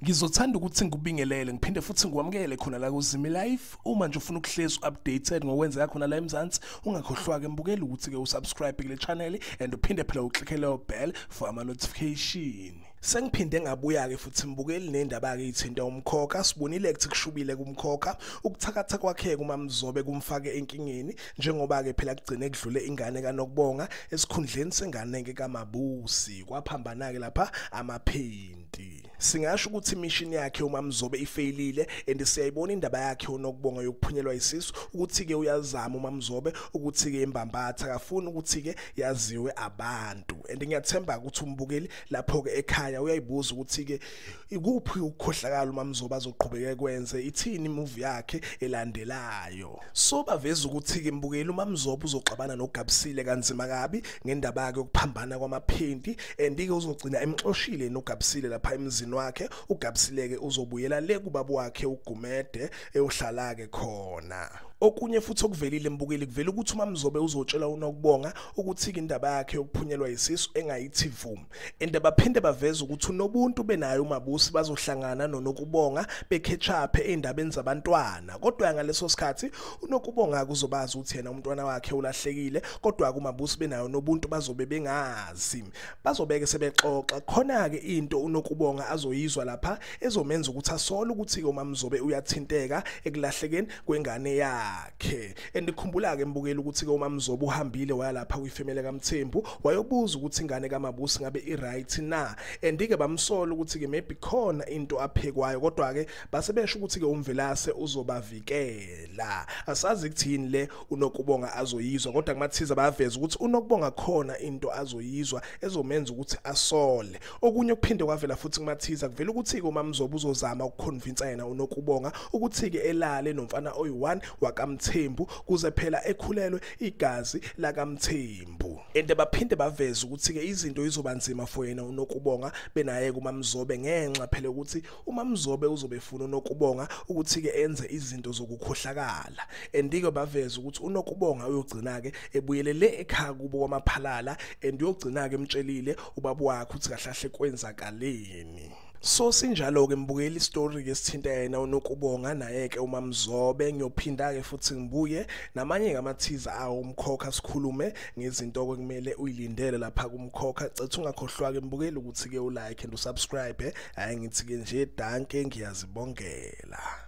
Ngizothanda ukuthi ngikubingelele ngiphinde futhi ngikwamukele khona la kuZimi Life uma nje ufuna ukuhlezi updated ngokwenzeka khona la eMzansi ungakhohlwa ke mbukele ukuthi ke usubscribe kule channel and uphinde phela uclickele ubell for ama notification Sengiphinde ngabuya ke futhi mbukeli nendaba ke ithinta umkhokha sibonile ukuthi kushubile kumkhokha ukuthakatha kwakhe kumamzobe kumfake enkingeni njengoba ke phela kugcine kudlule ingane kanokubonga esikhundleni sengane ke kamabusi kwaphambana ke lapha amaphenti singasho ukuthi mission yakhe umamzobe ifeyilile and siyayibona indaba yakhe onokubonga yokuphunyelwa isisu ukuthi ke uyazama umamzobe ukuthi ke imbambatha akafuni ukuthi ke yaziwe abantu and ngiyathemba ukuthi umbukeli lapho ke ekhaya uyayibuza ukuthi ke ikuphi ukukhohlakala uma mzoba azoqhubeka kwenze ithini movie yakhe elandelayo so baveza ukuthi ke mbukeli uma mzoba uzoxabana nogabisile kanzima kabi ngendaba yakhe yokuphambana kwamaphenti and ke uzogcina emxoshile nogabisile lapha emzini wakhe ugabisile ke uzobuyela le kubaba wakhe ugumede eyohlala ke khona okunye futhi okuvelile mbukeli kuvela ukuthi umamzobe uzotshela unokubonga ukuthika indaba yakhe yokuphunyelwa yisisu engayithi vum ende baphinde baveza ukuthi unobuntu benayo umabusi bazohlangana nonokubonga bekhethaphe eindabeni zabantwana kodwa ngaleso sikhathi unokubonga kuzobazi ukuthi yena umntwana wakhe ulahlekile kodwa kumabusi benayo nobuntu bazobe bengazi bazobeke sebexoxa khona ke into unokubonga azoyizwa lapha ezomenza ukuthi asole ukuthi ke umamzobe uyathinteka ekulahlekeni kwengane yakhe andikhumbula ke mbukela ukuthi ke umamzobo uhambile waya lapha kwifamily kaMthembu wayobuza ukuthi ingane kaMabusi ngabe iright na andike bamsola ukuthi ke maybe khona into aphekwayo kodwa ke basebesho ukuthi ke umvelase uzobavikela asazi ukuthini le unokubonga azoyizwa kodwa kumathiza baveza ukuthi unokubonga khona into azoyizwa ezomenza ukuthi asole Okunye okuphinde kwavela futhi kuMathiza kuvela ukuthi-ke uMamzobo uzozama ukukhonvinsa yena uNokubonga ukuthi-ke elale nomfana oyi-1 wakaMthembu kuze phela ekhulelwe igazi lakaMthembu. Ende baphinde baveza ukuthi-ke izinto izoba nzima for yena uNokubonga benaye kuMamzobe ngenxa phela ukuthi uMamzobe uzobe efuna uNokubonga ukuthi-ke enze izinto zokukhohlakala and-ke baveze ukuthi uNokubonga uyogcina-ke ebuyelele ekhaya kubo kwamaphalala and uyogcina-ke emtshelile ubaba wakhe ukuthi kahle kahle kwenzakaleni so sinjalo-ke mbukela isitori-ke sithinta yena unokubonga naye-ke umamzobe ngiyophinda-ke futhi ngibuye namanye-ke amathiza awo umkhokha sikhulume ngezinto-ke kumele uyilindele lapha kumkhokha cetha ungakhohlwa-ke mbukeli ukuthi-ke ulike and usubscribe hayi ngithi ke nje danke ngiyazibongela